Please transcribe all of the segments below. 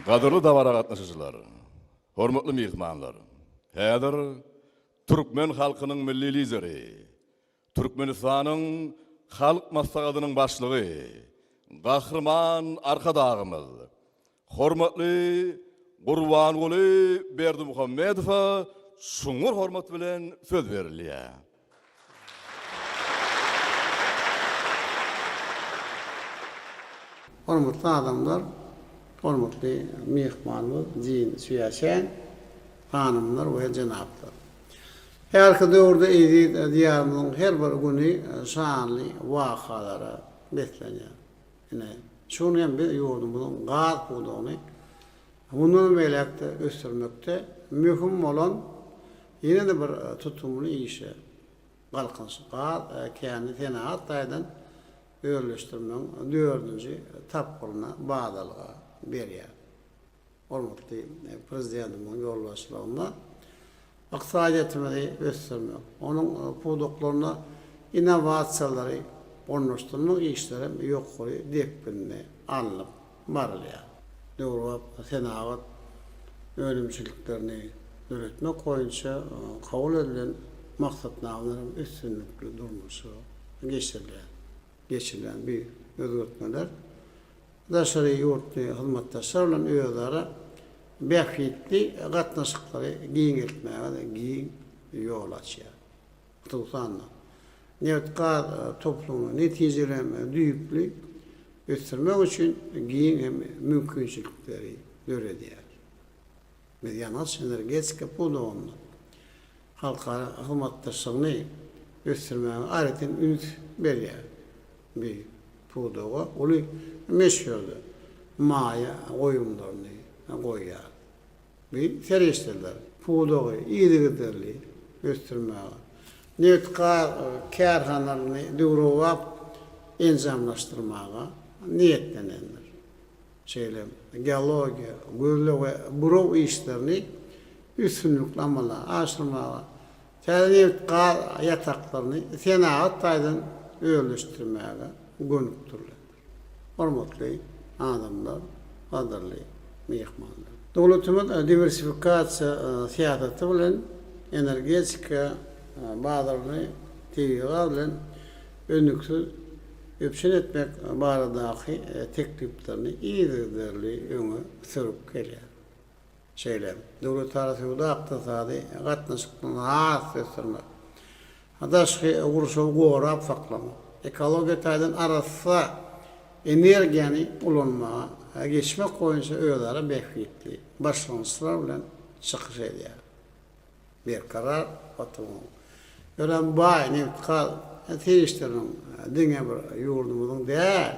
Gadyrly dabara gatnaşyjylar, hormatly myhmanlar! Häzir türkmen halkynyň Milli Lideri, Türkmenistanyň Halk Maslahatynyň Başlygy, Gahryman Arkadagymyz, hormatly Gurbanguly Berdimuhamedowa çuňňur hormat bilen söz berilýär. Hormatly adamlar, hormatly myhmanymyz Jin Sýuýaçen, hanymlar we jenaplar! Häzirki döwürde eziz Diýarymyzyň her bir güni şanly wakalara beslenýär. Ine, şu gün hem biz ýurdumyzyň gaz pudagyny mundanam beýläk-de ösdürmekde möhüm bolan Ýene-de bir tutumly işe Galkynyşy gaz käni senagat taýdan özleşdirmegiň dördünji tapgyryna badalga berýär. Hormatly Prezidentimiziň ýolbaşçylygynda ykdysadyýetimizi ösdürmek, onuň pudaklaryna innowasiýalary ornaşdyrmak işlerem ýokary depginde alnyp barylýar. Döwrebap senagat önümçiliklerini döretmek boýunça kabul edilen maksatnamalaryň üstünlikli durmuşa geçirilýär. Geçirilen bu özgertmeler daşary ýurtly hyzmatdaşlar bilen özara bähbitli gatnaşyklary giňeltmäge-de giň ýol açýar. hususan-da, nebit-gaz toplumyny netijeli hem düýpli ösdürmek üçin giň hem mümkinçilikleri döredýär. Biz ýangyç-energetika pudagynda halkara hyzmatdaşlygyny ösdürmäge aýratyn üns berýäris. Biz pudaga uly möçberde maýa goýumlaryny goýýarys. Bi serişdeler, pudagy yzygiderli ösdürmäge, nebit-gaz kärhanalaryny döwrebap enjamlaşdyrmaga niýetlenendir. Şeýle hem geologiýa, gözleg we buraw işlerini üstünlikli amala aşyrmaga, täze nebit-gaz ýataklaryny senagat taýdan özleşdirmäge gönükdirilendir. Hormatly adamlar, gadyrly myhmanlar! Döwletimiz diwersifikasiýa syýasaty bilen energetika bazaryny tebigy gaz bilen üznüksiz üpjün etmek baradaky tekliplerini yzygiderli öňe sürüp gelýär. şeýle hem döwletara söwda-ykdysady gatnaşyklary has-da ösdürmek, daşky gurşawy gorap saklamak, ekologiýa taýdan arassa energiýany ulanmaga geçmek boýunça özara bähbitli başlangyçlar bilen çykyş edýär. Berkarar oturyň. Örän baý nebit-gaz serişdeleriniň diňe bir ýurdumyzyň däl,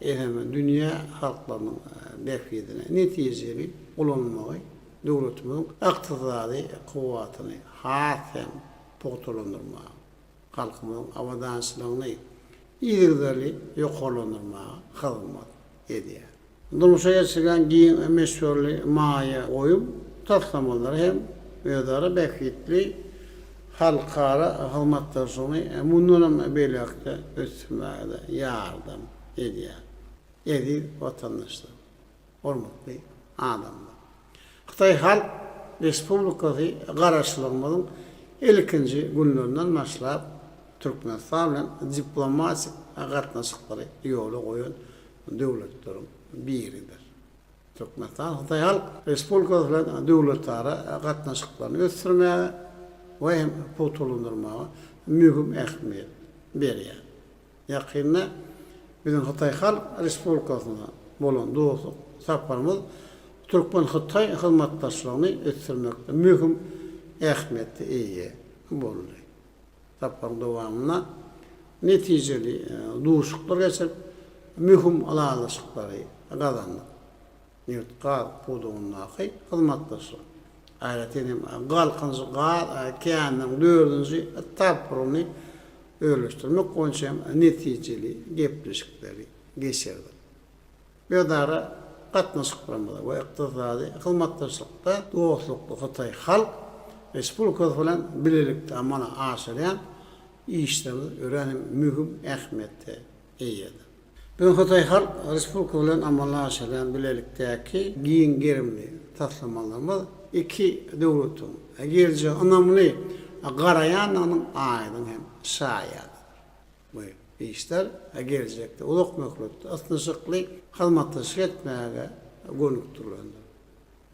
eýsem, dünýä halklarynyň bähbidine netijeli ulanylmagy döwletimiziň ykdysady kuwwatyny has hem pugtalandyrmaga, halkymyzyň abadançylygyny yzygiderli ýokarlandyrmaga hyzmat edýär. Durmuşa geçirilýän giň möçberli maýa goýum taslamalary hem özara bähbitli halkara hyzmatdaşlygyny mundanam beýläk-de ösdürmäge-de ýardam edýär. Eziz watandaşlar! Hormatly adamlar! Hytaý Halk Respublikasy Garaşsyzlygymyzyň ilkinji günlerinden başlap Türkmenistan bilen diplomatik gatnaşyklary ýola goýan döwletleriň biridir. Türkmenistan Hytaý Halk Respublikasy bilen döwletara gatnaşyklaryny ösdürmäge we hem pugtalandyrmaga möhüm ähmiýet berýär. Ýakynda biziň Hytaý Halk Respublikasyna bolan dostluk saparymyz türkmen-hytaý hyzmatdaşlygyny ösdürmekde möhüm ähmiýete eýe boldy. Saparyň dowamynda netijeli duşuşyklar geçirip, möhüm ylalaşyklary gazandyk. nebit-gaz pudagyndaky hyzmatdaşlyk, aýratyn hem Galkynyşy gaz käniniň dördünji etapyny özleşdirmek boýunça hem netijeli gepleşikleri geçirdik. Özara gatnaşyklarymyzda we ykdysady hyzmatdaşlykda dostlukly Hytaý Halk Respublikasy bilen bilelikde amala aşyrýan işlerimiz örän hem möhüm ähmiýete eýedir. Öň Hytaý Halk Respublikasy bilen amala aşyrylýan bilelikdäki giň gerimli taslamalarymyz iki döwletiň geljege ynamly garaýandygynyň aýdyň hem şaýadydyr. Bu işler geljekde uzak möhletli ysnyşykly hyzmatdaşlyk etmäge gönükdirilendir.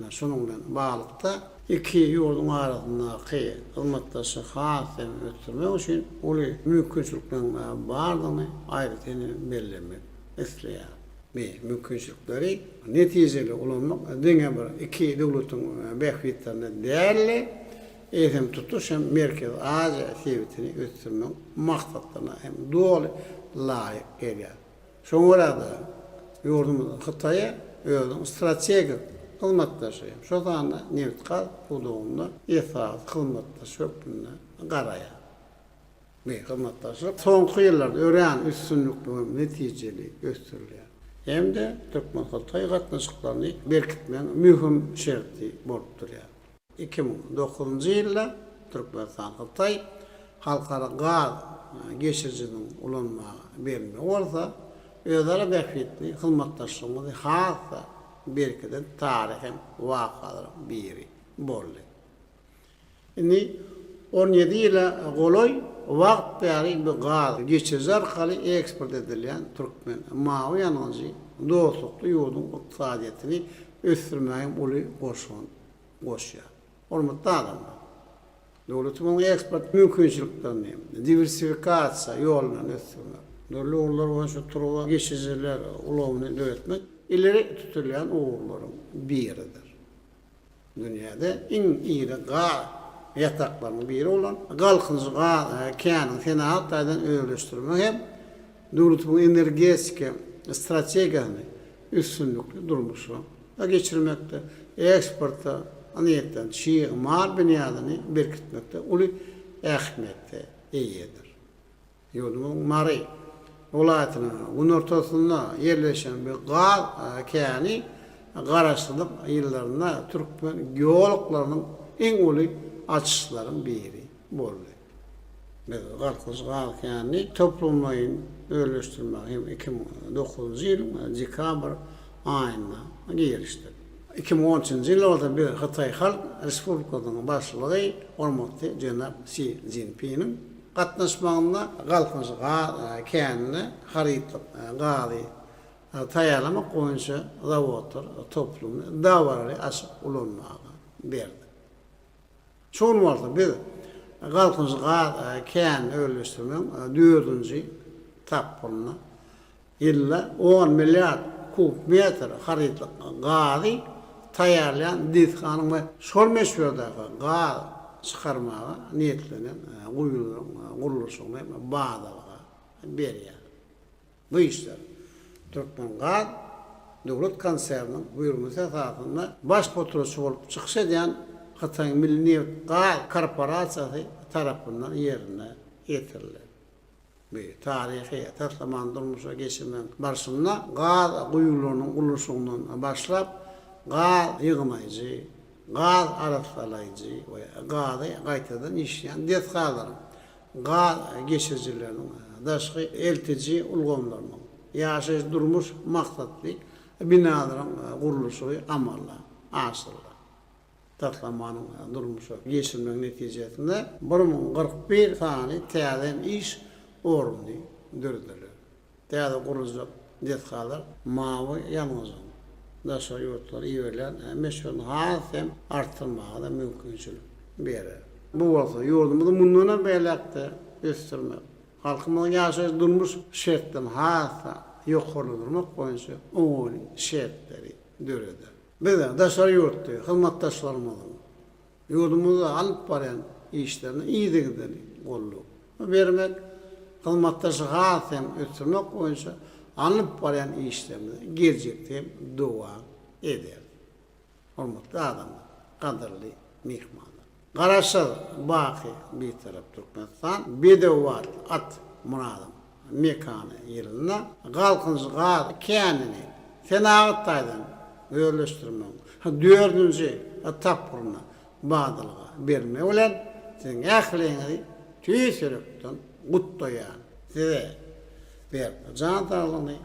Şunuň bilen baglylykda, iki ýurduň arasyndaky hyzmatdaşlygy has hem ösdürmek üçin uly mümkinçilikleriň bardygyny aýratyn bellemek isleýärin. Bu mümkinçilikleri netijeli ulanmak diňe bir iki döwletiň bähbitlerine däl-de, eýsem, tutuş hem Merkezi Aziýa sebitini ösdürmegiň maksatlaryna hem doly laýyk gelýär. Şoňa görä-de, ýurdumyz Hytaýa özüniň strategik hyzmatdaşy, şol sanda nebit-gaz pudagynda esasy hyzmatdaş hökmünde garaýar. Bu hyzmatdaşlyk soňky ýyllarda örän üstünlikli we netijeli ösdürilýär hem-de türkmen-hytaý gatnaşyklaryny berkitmegiň möhüm şerti bolup durýar. Iki müň on dokuzynjy ýylda Türkmenistan Hytaý halkara gaz geçirijiniň ulanmaga berilmegi bolsa, özara bähbitli hyzmatdaşlygymyzy has-da berkiden taryhy wakalaryň biri boldy. Indi on ýedi ýyla golaý wagt bäri bu gaz geçiriji arkaly eksport edilýän türkmen mawy ýangyjy dostlukly ýurduň ykdysadyýetini ösdürmäge hem uly goşant goşýar. Hormatly adamlar, döwletimiziň eksport mümkinçiliklerini diwersifikasiýa ýolundan ösdürmek, dürli ugurlar boýunça turba geçijiler ulgamyny döretmek ileri tutulýan ugurlaryň biridir. Dünýäde iň iri gaz ýataklarynyň biri bolan Galkynyşy gaz känini senagat taýdan özleşdirmek hem döwletimiziň energetika strategiýasyny üstünlikli durmuşa geçirmekde, eksporta niýetlenen çig mal binýadyny berkitmekde uly ähmiýete eýedir. Ýurdumyzyň Mary welaýatynyň günortasynda ýerleşen bu gaz käni Garaşsyzlyk ýyllarynda türkmen geoloklarynyň iň uly açyşlaryň biri boldy. Biz Garpyz gaz känini toplumlaýyn özleşdirmegi hem iki müň on dokuzynjy ýylyň dekabr aýynda gelişdik. Iki müň on üçünji ýyl bolsa biz Hytaý Halk Respublikasynyň Başlygy hormatly jenap Si Szinpiniň gatnaşmagynda Galkynyş gaz känine harytlyk gazy taýýarlamak boýunça zawodlar toplumyny dabaraly açyp ulanmaga berdik. Şu gün bolsa biz Galkynyşly gaz känini özleşdirmegiň dördünji tapgyrynda ýylda on milliard kub metr harytlyk gazy taýýarlaýan desganyň we şol möçberdäki gaz çykarmaga niýetlenen guýularyň gurluşygyny bazalyga berýär. Bu işler Türkmengaz döwlet konserniniň buýurmasy esasynda baş potratçy bolup çykyş edýän Hytaýyň Milli nebit gaz korporasiýasy tarapyndan ýerine ýetirildi. Bu taryhy taslamany durmuşa geçirmegiň barşynda gaz guýularynyň gurluşygyndan başlap, gaz ýygnaýjy, gaz arassalaýjy we gazy gaýtadan işleýän desgalaryň, gaz geçirijileriniň, daşky eltiji ulgamlarynyň, ýaşaýyş-durmuş maksatly binalaryň gurluşygy amala aşyryldy. Taslamanyň durmuşa geçirilmegi netijesinde bir müň kyrk bir sany täze iş orny dörediler. Täze guruljak desgalar mawy ýalňyzyň daşary ýurtlara iberilýän möçberini has hem artdyrmaga-da mümkinçilik berer. Bu bolsa ýurdumyzy mundan hem beýläk-de ösdürmek, halkymyzyň ýaşaýyş-durmuş şertlerini has-da ýokarlandyrmak boýunça oňaýly şertleri döreder. Biz daşary ýurtly hyzmatdaşlarymyzyň Ýurdumyzda alyp barýan işlerine yzygiderli goldap bermek, hyzmatdaşlygy has hem ösdürmek boýunça alnyp barýan işlerimizi geljekde hem dowam ederis. Hormatly adamlar, gadyrly myhmanlar! Garaşsyz, baky Bitarap Türkmenistan, Bedew atly at Myradym Mekana ýylynda Galkynyş gaz känini senagat taýdan özleşdirmegiň dördünji tapgyryna badalga bermegi bilen siziň ähliňizi tüýs ýürekden gutlaýan. Size Berk jan saglygyny,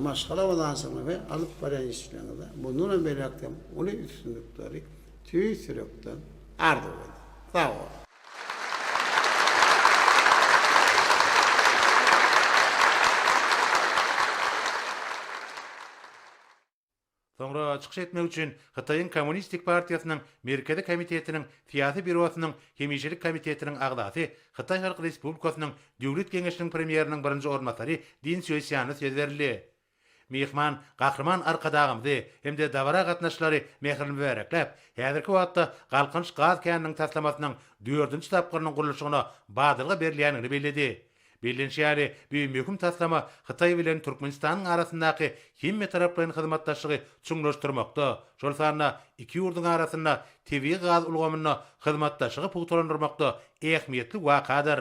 maşgala abadançylygyny we alyp barýan işleriňizde bundan hem beýläk hem uly üstünlikleri tüýs ýürekden arzuw edýän. Sag boluň! Soňra çykyş etmek üçin Hytaýyň Kommunistik partiýasynyň Merkezi komitetiniň Syýasy býurosynyň hemişelik komitetiniň agzasy, Hytaý Halk Respublikasynyň Döwlet Geňeşiniň Premýeriniň birinji orunbasary Din Sýuesýana söz berildi. Myhman Gahryman Arkadagymyzy hem-de dabara gatnaşyjylary mähirli mübärekläp, häzirki wagtda Galkynyş gaz käniniň taslamasynyň dördünji tapgyrynyň gurluşygyna badalga berilýändigini belledi. Bellenişi ýaly, bu möhüm taslama Hytaý bilen Türkmenistanyň arasyndaky hemmetaraplaýyn hyzmatdaşlygy çuňlaşdyrmakda, şol sanda iki ýurduň arasynda tebigy gaz ulgamynda hyzmatdaşlygy pugtalandyrmakda ähmiýetli wakadyr.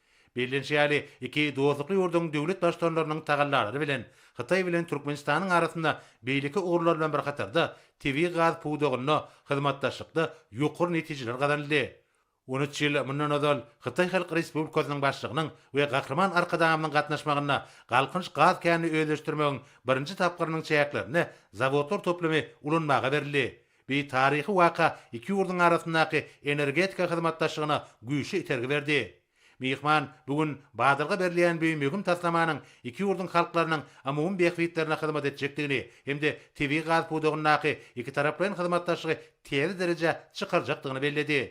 Bellenişi ýaly, iki dostlukly ýurduň döwlet baştutanlarynyň tagallalary bilen, Hytaý bilen Türkmenistanyň arasynda beýleki ugurlar bilen bir hatarda, tebigy gaz pudagynda hyzmatdaşlykda ýokary netijeler gazanyldy. On üç ýyl mundan ozal, Hytaý Halk Respublikasynyň Başlygynyň we Gahryman Arkadagymyzyň gatnaşmagynda Galkynyş gaz känini özleşdirmegiň birinji tapgyrynyň çäklerinde zawodlar toplumy ulanmaga berildi. Bu taryhy waka iki ýurduň arasyndaky energetika hyzmatdaşlygyna güýçli itergi berdi. Myhman bu gün badalga berilýän bu möhüm taslamanyň iki ýurduň halklarynyň amumy bähbitlerine hyzmat etjekdigini hem-de tebigy gaz pudagyndaky ikitaraplaýyn hyzmatdaşlygy täze derejä çykarjakdygyny belledi.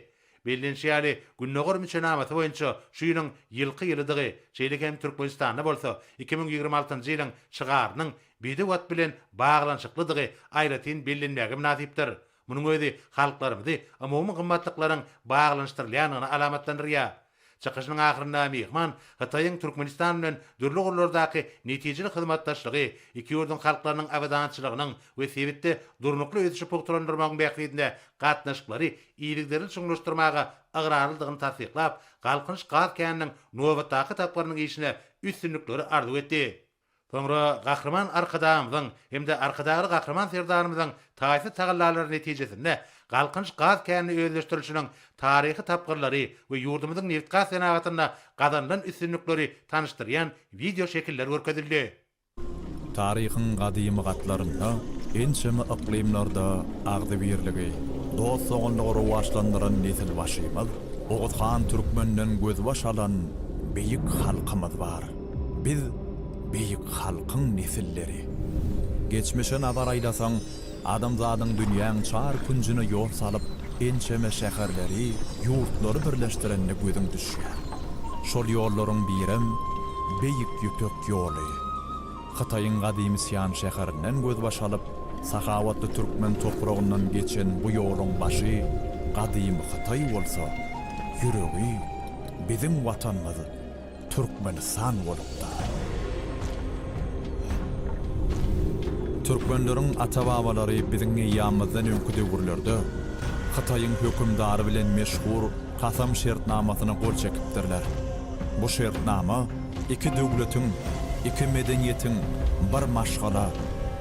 Bellenişi ýaly, Gündogar müçenamasy boýunça şu ýylyň Ýylky ýylydygy, şeýle hem Türkmenistanda bolsa iki müň ýigrimi altynjy ýylyň şygarynyň Bide wagt bilen baglanyşyklydygy aýratyn bellenmäge mynasypdyr. Munuň özi halklarymyzy umumy gymmatlyklaryň baglanyşdyrylýandygyna alamatlandyrýar. Çykyşynyň ahyrynda myhman Hytaýyň Türkmenistan bilen dürli ugurlardaky netijeli hyzmatdaşlygy, iki ýurduň halklarynyň abadançylygynyň we sebitde durnukly ösüşi pugtalandyrmagyň bähbidine gatnaşyklary yzygiderli çuňlaşdyrmaga ygrarlydygyny tassyklap, Galkynyş gaz käniniň nobatdaky etaplarynyň işine üstünlikleri arzuw etdi. Soňra Gahryman Arkadagymyzyň hem-de Arkadagly Gahryman Serdarymyzyň taýsyz tagallalary netijesinde Galkynyş gaz känini özleşdirilişiniň taryhy tapgyrlary we ýurdumyzyň nebitgaz senagatynda gazanylan üstünlikleri tanyşdyrýan wideo şekiller görkezildi. Taryhyň gadymy gatlarynda ençeme yklymlarda agzybirligi, dost-doganlygy rowaçlandyran nesilbaşymyz Oguz han Türkmenden gözbaş alan beýik halkymyz bar. Biz beýik halkyň nesilleri. Geçmişe nazar aýlasaň, adamzadyň dünýäň çar künjüne ýol salyp, ençeme şäherleri, ýurtlary birleşdirenine gözüň düşýär. Şol ýollaryň birem Beýik Ýüpek ýoly. Hytaýyň gadymy Sian şäherinden gözbaş alyp, sahawatly türkmen topragyndan geçen bu ýoluň başy gadymy Hytaý bolsa, ýüregi biziň Watanymyz. Türkmenistan bolupdyr. Türkmenleriň ata-babalary biziň eýýamymyzdan öňki döwürlerde Hytaýyň hökümdary bilen meşhur Kasam şertnamasyna gol çekipdirler. Bu şertnama iki döwletiň, iki medeniýetiň bir maşgala,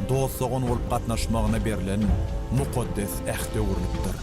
dost-dogan bolup gatnaşmagyna berlen mukaddes äht öwrülipdir.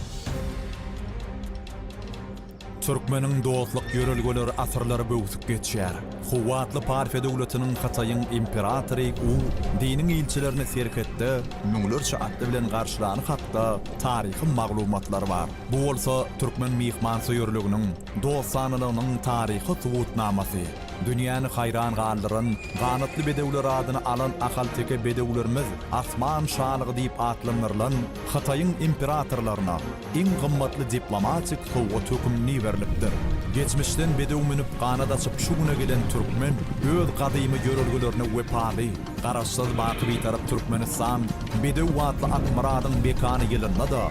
Türkmeniň dostluk ýörelgeleri asyrlary böwsüp geçýär. Kuwwatly Parfiýa döwletiniň Hytaýyň imperatory U diniň ilçilerini serhetde müňlerçe atly bilen garşylany hakda taryhy maglumatlar bar. Bu bolsa türkmen myhmansöýerliginiň, dostanalygynyň taryhy subutnamasy. Dünýäni haýran galdyran Ganatly bedewler adyny alan ahalteke bedewlerimiz Asman şalygy diýip atlandyrylan Hytaýyň imperatorlaryna, iň gymmatly diplomatik sowgat hökümni berlipdir. Geçmişden bedew münüp ganat açyp şu güne gelen türkmen öz gadymy ýörelgelerine wepaly, Garaşsyz baky Bitarap Türkmenistan bedew atly Akmyradyň mekany ýylynda-da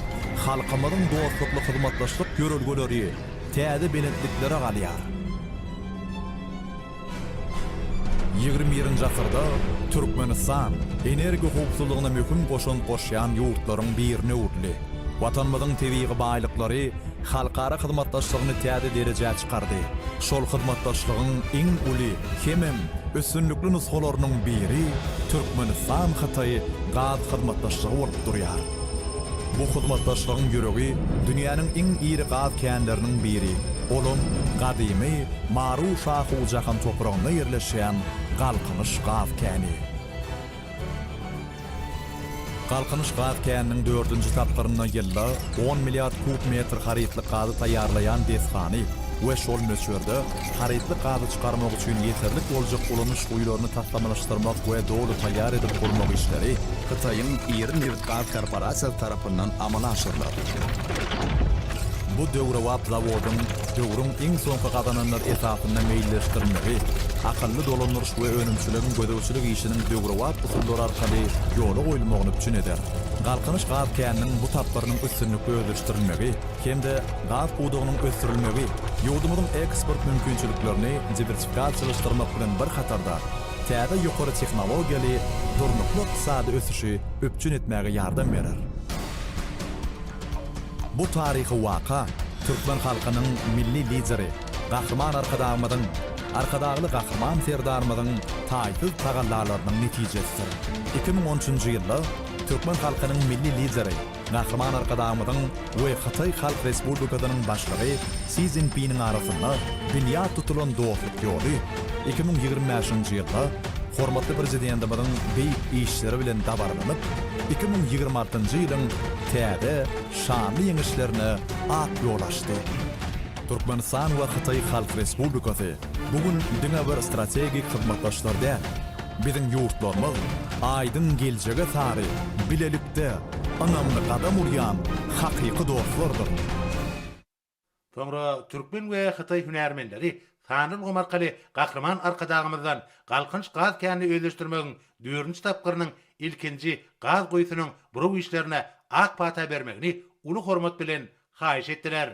halkymyzyň dostlukly hyzmatdaşlyk ýörelgeleri täze belentliklere galýar. Ýigrimi birinji asyrda Türkmenistan energiýa howpsuzlygyna möhüm goşant goşýan ýurtlaryň birine öwrüldi. Watanymyzyň tebigy baýlyklary halkara hyzmatdaşlygyny täze derejä çykardy. Şol hyzmatdaşlygyň iň uly hemem üstünlikli nusgalarynyň biri Türkmenistan-Hytaý gaz hyzmatdaşlygy bolup durýar. Bu hyzmatdaşlygyň ýüregi dünýäniň iň iri gaz känleriniň biri, olam gadymy Maru-Şahu-Jahan topragynda ýerleşýän Galkynyş gaz käni. Galkynyş gaz käniniň dördünji tapgyrynda ýylda on milliard kub metr harytlyk gazy taýýarlaýan desgany we şol möçberde harytly gazy çykarmak üçin ýeterlik boljak ulanyş guýularyny taslamalaşdyrmak we doly taýýar edip gurmak işleri Hytaýyň iri nebitgaz korporasiýasy tarapyndan amala aşyrylar. Bu döwrebap zawodyň döwrüň iň soňky gazananlary esasynda meýilleşdirilmegi akylly dolandyryş we önümçiligiň gözegçilik işiniň döwrebap usullar arkaly ýola goýulmagyny üpjün eder. Galkynyş gaz käniniň bu tapgyrynyň üstünlikli özleşdirilmegi, hem-de gaz pudagynyň ösdürilmegi ýurdumyzyň eksport mümkinçiliklerini diwersifikasiýalaşdyrmak bilen bir hatarda, täze ýokary tehnologiýaly durnukly ykdysady ösüşi üpjün etmäge ýardam berer. Bu taryhy waka türkmen halkynyň Milli Lideri Gahryman Arkadagymyzyň, Arkadagly Gahryman Serdarymyzyň taýsyz tagallalarynyň netijesidir. Iki müň on üçünji ýylda türkmen halkynyň Milli Lideri, Gahryman Arkadagymyzyň we Hytaý Halk Respublikasynyň Başlygy Si Szinpiniň arasynda binýat tutulan dostluk ýoly iki müň ýigrimi bäşinji ýylda hormatly Prezidentimiziň beýik işleri bilen dabaralanyp, iki müň ýigrimi altynjy ýylyň täze şanly ýeňişlerine ak ýol açdy. Türkmenistan we Hytaý Halk Respublikasy bu gün diňe bir strategik hyzmatdaşlar däl, Biziň ýurtlarymyz aýdyň geljege sary bilelikde ynamly gadam urýan hakyky dostlardyr. Soňra türkmen we hytaý hünärmenleri sanly ulgam arkaly Gahryman Arkadagymyzdan Galkynyş gaz känini özleşdirmegiň dördünji tapgyrynyň ilkinji gaz guýusynyň buraw işlerine ak pata bermegini uly hormat bilen haýyş etdiler.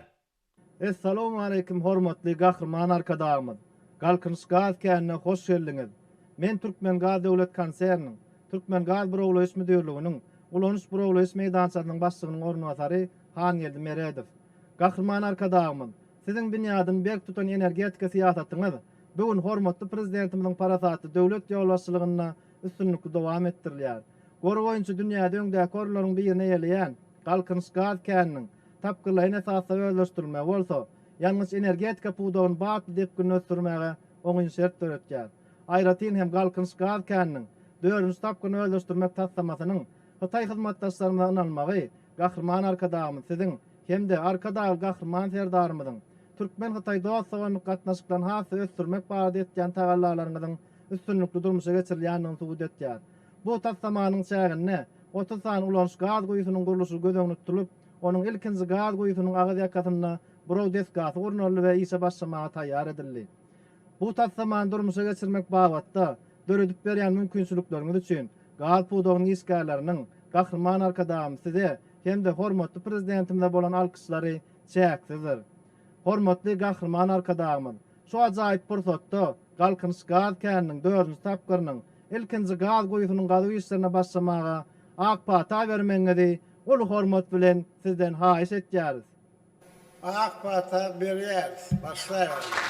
Essalawmaleýkim hormatly Gahryman Arkadagymyz, Galkynyş gaz känine hoş geldiňiz! Men Türkmengaz döwlet konserniniň Türkmengazburawlaýyş müdirliginiň ulanyş-burawlaýyş meýdançasynyň başlygynyň orunbasary Hangeldi Meredow. Gahryman Arkadagymyz, Siziň binýadyny berk tutan energetika syýasatyňyz bu gün hormatly Prezidentimiziň parasatly döwlet ýolbaşçylygynda üstünlikli dowam etdirilýär. Gory boýunça dünýäde öňdäki orunlaryň birini eýeleýän Galkynyş gaz käniniň tapgyrlaýyn esasda özleşdirilmegi bolsa, ýangyç-energetika pudagyny batly depginde ösdürmäge oňyn şert döretýär. Aýratyn hem Galkynyş gaz käniniň dördünji tapgyryny özleşdirmek taslamasynyň hytaý hyzmatdaşlarymyza ynanmagy Gahryman Arkadagymyz Siziň hem-de Arkadagly Gahryman Serdarymyzyň türkmen-hytaý dost-doganlyk gatnaşyklaryny has-da ösdürmek barada etýän tagallalaryňyzyň üstünlikli durmuşa geçirilýändigini subut etýär. Bu taslamanyň çäginde otuz sany ulanyş gaz guýusynyň gurluşygy göz öňünde tutulyp, onuň ilkinji gaz guýusynyň agyz ýakasynda buraw desgasy gurnaldy we işe başlamaga taýýar edildi. Bu taslamany durmuşa geçirmek babatda döredip berýän mümkinçilikleriňiz üçin gaz pudagynyň işgärleriniň Gahryman Arkadagymyz Size hem-de hormatly Prezidentimize bolan alkyşlary çäksizdir. Hormatly Gahryman Arkadagymyz şu ajaýyp pursatda Galkynyş gaz käniniň dördünji tapgyrynyň ilkinji gaz guýusynyň gazuw işlerine başlamaga ak pata bermegiňizi uly hormat bilen Sizden haýyş etýäris. Ak pata berýäris, başlaýberler!